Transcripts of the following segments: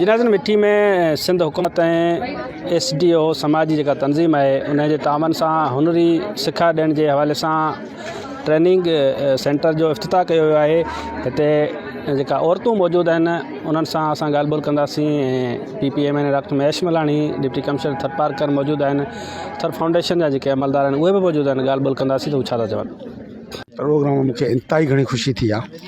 جنازن مٺي ۾ سنڌ حڪومت ۽ S D O سماج جي جيڪا تنظيم آهي ان جي تعاون سان هنري سکا ڏيڻ جي حوالي سان ٽريننگ سينٽر جو افتتاح ڪيو ويو آهي هتي جيڪا عورتون موجود آهن انهن سان اسان ڳالهه ٻولهه ڪنداسين P P M N doctor Mahesh Malani deputy commissioner Tharparkar موجود آهن ٿر فائونڊيشن جا جيڪي عملدار آهن اهي به موجود آهن ڳالهه ٻولهه ڪنداسين ته هو ڇا ٿا چون پروگرام ۾ مونکي انتهائي گهڻي خوشي ٿي آهي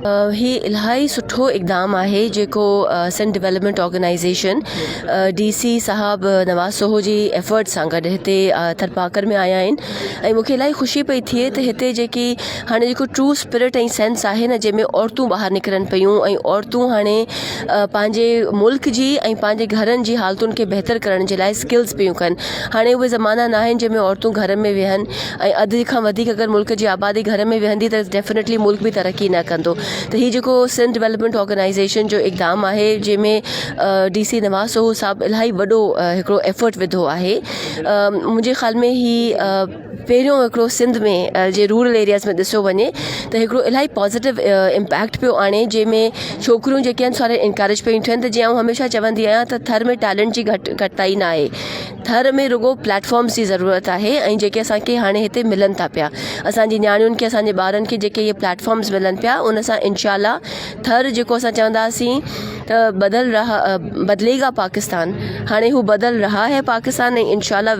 هي الاهي سٺو اقدام آهي جيڪو Sindh development organisation D C صاحب نواز سوهو جي ايفرٽ سان گڏ هتي ٿرپارڪر ۾ آيا آهن ۽ مونکي الاهي خوشي پئي ٿئي ته هتي جيڪي هاڻي جيڪو ٽرو اسپرٽ ۽ سينس آهي نه جنهن ۾ عورتون ٻاهر نڪرن پيون ۽ عورتون هاڻي پنهنجي ملڪ جي ۽ پنهنجي گهرن جي حالتن کي بهتر ڪرڻ جي لاء اسڪلز پيون ڪن هاڻي اهي زمانا نه آهن جنهن ۾ عورتون گهر ۾ ويهن ۽ اڌ کان وڌيڪ اگر ملڪ جي آبادي گهر ۾ ويهندي ته ڊيفنيٽلي ملڪ به ترقي نه ڪندو ته هي جيڪو سنڌ ڊولپمينٽ آرگنائيزيشن جو اقدام آهي جنهن ۾ ڊي سي نواز سهو صاحب الاهي وڏو هڪڙو ايفرٽ وڌو آهي منهنجي خيال ۾ هي پهريون هڪڙو سنڌ ۾ جي رورل ايرياز ۾ ڏسيو وڃي ته هڪڙو الاهي پازيٽو امپيڪٽ پيو آڻي جنهن ۾ ڇوڪريون جيڪي آهن ساري انڪريج پيون ٿين ته جيئن آئون هميشه چوندي آهيان ته ٿر ۾ ٽيلنٽ جي گهٽ گهٽتائي ناهي ٿر ۾ رڳو پليٽ فارمز جي ضرورت آهي ۽ جيڪي اسانکي هاڻي هتي ملن ٿا پيا اسانجي نياڻين کي اسانجي ٻارن کي جيڪي اهي پليٽ فارمز ملن پيا ان سان انشاء الله ٿر جيڪو اسان چونداسين ته بدل رها بدلي گا پاڪستان هاڻي هو بدل رها هي پاڪستان ۽ انشاء الله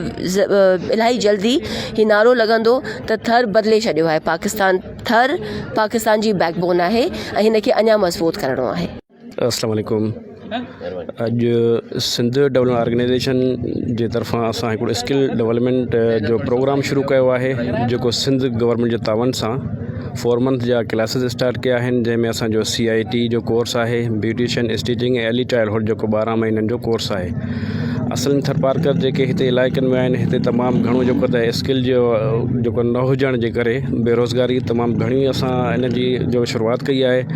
الاهي جلدي هي نعرو لڳندو ته ٿر بدلي ڇڏيو آهي پاڪستان ٿر پاڪستان جي بيڪ بون آهي ۽ هن کي اڃا مضبوط ڪرڻو آهي السلام عليڪم اڄ سنڌ ڊولپمينٽ آرگنائيزيشن جي طرفان اسان هڪڙو اسڪل ڊولپمينٽ جو پروگرام شروع ڪيو آهي جيڪو سنڌ گورنمينٽ جي تعاون سان فور منٿ جا ڪلاسز اسٽارٽ ڪيا آهن جنهن ۾ اسانجو سي آء ٽي جو ڪورس آهي beautician stitching ۽ early childhood جيڪو ٻارهن مهينن جو ڪورس آهي اصل ۾ ٿرپارڪر جيڪي هتي علائقن ۾ آهن هتي تمام گهڻو جيڪو ته اسڪل جو جيڪو نه هجڻ جي ڪري بيروزگاري تمام گهڻي اسان ان جي جو شروعات ڪئي آهي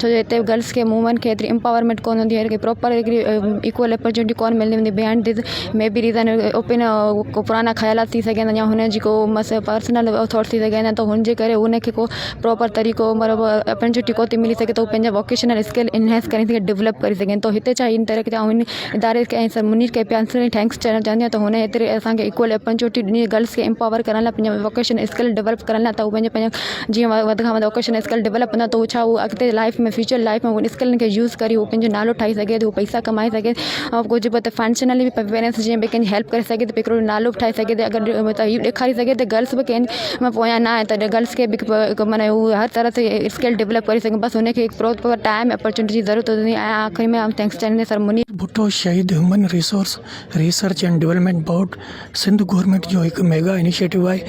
ڇو جو هتي گرلس کي وومين کي ايتري امپاورمينٽ ڪون هوندي آهي پراپر هڪڙي ايڪول اپرچونٽي ڪون ملندي هوندي behind these may be reason open ڪو پرانا خيالات ٿي سگهن ٿا يا هن جي ڪو مس پرسنل ٿاٽ ٿي سگهن ٿا هن جي ڪري هن کي ڪو پراپر طريقو مطلب اپرچونٽي ڪو ٿي ملي سگهي ٿو پنهنجا ووڪيشنل اسڪل انهينس ڪري سگهي ڊولپ ڪري سگهن ٿو هتي چاهي ان طريقي جا اداري کي ۽ منير کي پرسنلي ٿينڪس چوڻ چاهندي آهيان ته هن ايتري اسانکي ايڪول اپرچونٽي ڏني گرلس کي امپاور ڪرڻ لاء پنهنجا ووڪيشنل اسڪل ڊولپ ڪرڻ لاء ته هو پنهنجا پنهنجا جيئن هو وڌ کان وڌ ووڪيشنل اسڪل ڊولپ ڪندا ته ڇا هو اڳتي لائيف ۾ فيوچر لائيف ۾ انهن اسڪلن کي يوز ڪري هو پنهنجو نالو ٺاهي سگهي ٿو پئسا ڪمائي سگهي ٿو ڪجهه به ته فنشنلي به پيرنٽس جي به ڪنهن جي هيلپ ڪري سگهي ٿو هڪڙو نالو به ٺاهي سگهي ٿو اگر ته هي ڏيکاري سگهي ته گرلس به ڪنهن ۾ پويان نه آهي ته گرلس کي به هڪ من هو هر طرح سي اسڪل ڊولپ ڪري سگهي بس هن کي هڪ پروپر ٽائيم اپرچونٽي جي ضرورت هوندي ۽ آخري ۾ آئون ٿينڪس چاهيندي سر منير ڀٽو شهيد human resource research and development board Sindh government جو هڪ ميگا انيشيٽو آهي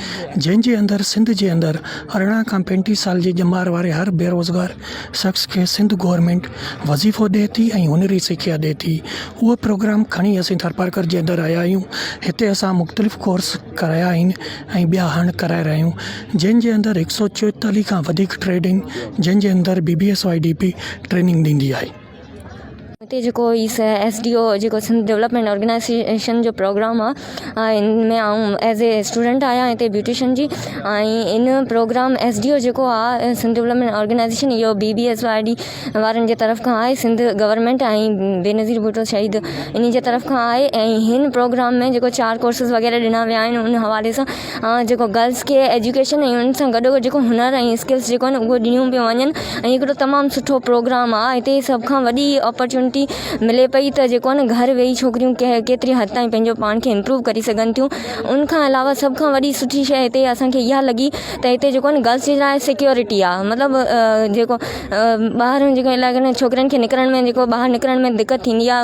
جنهن جي اندر سنڌ جي اندر ارڙهن کان پينٽيهه سال جي ڄمار واري هر بيروزگار شخص کي سنڌ گورنمينٽ وظيفو ڏئي ٿي ۽ هنري سکيا ڏئي ٿي اهو پروگرام کڻي اسين ٿرپارڪر جي اندر آيا آهيون هتي اسان مختلف ڪورس ڪرايا آهن ۽ ٻيا هاڻ ڪرائي رهيا آهيون جنهن جي اندر هڪ سئو چوئيتاليهه کان وڌيڪ ٽريڊنگ جنهن جي اندر B B S Y D P training ڏيندي آهي هتي جيڪو ايس ڊي او جيڪو سنڌ ڊولپمينٽ آرگنائيزيشن جو پروگرام آهي ان ۾ آئون ايز اي اسٽوڊنٽ آهيان هتي بيوٽيشن جي ۽ ان پروگرام ايس ڊي او جيڪو آهي سنڌ ڊولپمينٽ آرگنائيزيشن اهو B B S Y D وارن جي طرف کان آهي سنڌ گورنمينٽ ۽ بينظير ڀٽو شهيد انهي جي طرف کان آهي ۽ هن پروگرام ۾ جيڪو چار ڪورسز وغيره ڏنا ويا آهن ان حوالي سان جيڪو گرلس کي ايجوڪيشن ۽ ان سان گڏو گڏ جيڪو هنر ۽ اسڪلس جيڪو آهن اهو ڏنيون پيون وڃن ۽ هڪڙو تمام سٺو پروگرام آ هتي سڀ کان وڏي اپرچونٽي ملي پئي ته جيڪو آهن گهر ويهي ڇوڪريون ڪهڙي ڪيتري حد تائين پنهنجو پاڻ کي امپروو ڪري سگهن ٿيون ان کان علاوه سڀ کان وڏي سٺي شيء هتي اسانکي اها لڳي ته هتي جيڪو آهن گرلس جي لاء سيڪيورٽي آ مطلب جيڪو ٻاهر جيڪو علائقن ۾ ڇوڪرين کي نڪرڻ ۾ جيڪو ٻاهر نڪرڻ ۾ دقت ٿيندي آ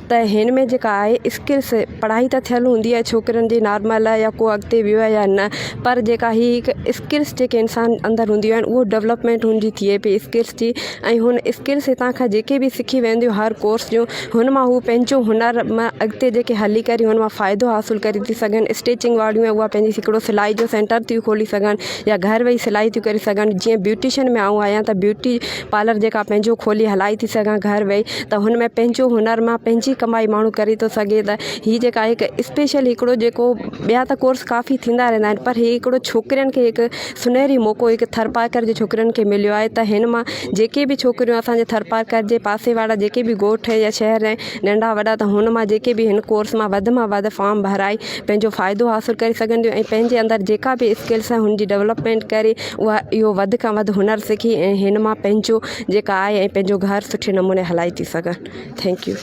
ته هن ۾ جيڪا آهي اسڪلس پڙهائي ته ٿيل هوندي آهي ڇوڪرين جي نارمل يا ڪو اڳتي ويو آهي يا نه پر جيڪا هي هڪ اسڪلس جيڪي انسان اندر هونديون آهن اهو ڊولپمينٽ هن جي ٿئي پئي اسڪلس جي ۽ هن اسڪلس هتان کان جيڪي بي سکي وينديون هر ڪورس جون هن مان هو پنهنجو هنر م اڳتي جيڪي هلي ڪري هن مان فائدو حاصل ڪري ٿي سگهن اسٽيچنگ واريون اهي اهو پنهنجي هڪڙو سلائي جو سينٽر ٿي کولي سگهن يا گهر ويهي سلائي ٿي ڪري سگهن جيئن بيوٽيشن ۾ آئون آهيان ته بيوٽي پارلر جيڪا پنهنجو کولي هلائي ٿي سگهان گهر ويهي ته هن ۾ پنهنجو هنر مان پنهنجي ڪمائي ماڻهو ڪري ٿو سگهي ته هي جيڪا هڪ اسپيشل هڪڙو جيڪو ٻيا ته ڪورس ڪافي ٿيندا رهندا آهن پر هي هڪڙو ڇوڪرين کي هڪ سنهري موقعو هڪ ٿرپارڪر جي ڇوڪرين کي مليو آهي ته هن مان جيڪي بي ڇوڪريون اسانجي ٿرپارڪر جي پاسي وارا جيڪي بي ڳوٺ يا شهر ۽ ننڍا وڏا ته هن مان جيڪي بي هن ڪورس مان وڌ مان وڌ فارم ڀرائي پنهنجو فائدو حاصل ڪري سگهنديون ۽ پنهنجي اندر جيڪا بي اسڪلس آهي هن جي ڊولپمينٽ ڪري اها اهو وڌ کان وڌ هنر سکي ۽ هن مان پنهنجو جيڪا آء ۽ پنهنجو گهر سٺي نموني هلائي ٿي سگهن ٿينڪ يو.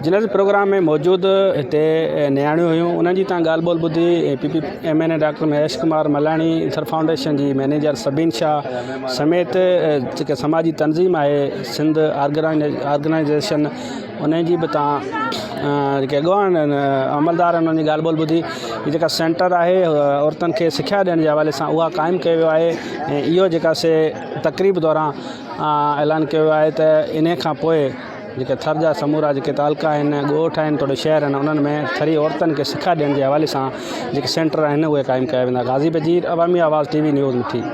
جنرل جي پروگرام ۾ موجود هتي نياڻيون هيون انهن جي تان ڳالهه ٻولهه ٻڌي P P M N A doctor Mahesh Kumar Malani Thar foundation جي مئنيجر سبين شاهه سميت جيڪا سماجي تنظيم آهي سنڌ آرگنائيزيشن انهن جي به تان جيڪي اڳواڻ عملدار انهن جي ڳالهه ٻولهه ٻڌي هي جيڪا سينٽر آهي عورتن کي سکيا ڏيڻ جي حوالي سان اها قائم ڪيو ويو آهي ۽ اهو جيڪا سي تقريب دوران اعلان ڪيو ويو آهي ته انهي کان پوء جيڪي ٿر جا سمورا جيڪي تعلقا آهن ڳوٺ آهن توڙي شهر آهن انهن ۾ ٿري عورتن کي سکيا ڏيڻ جي حوالي سان جيڪي سينٽر آهن اهي قائم ڪيا ويندا غازي Bajeer Awami Awaz T V news مٺي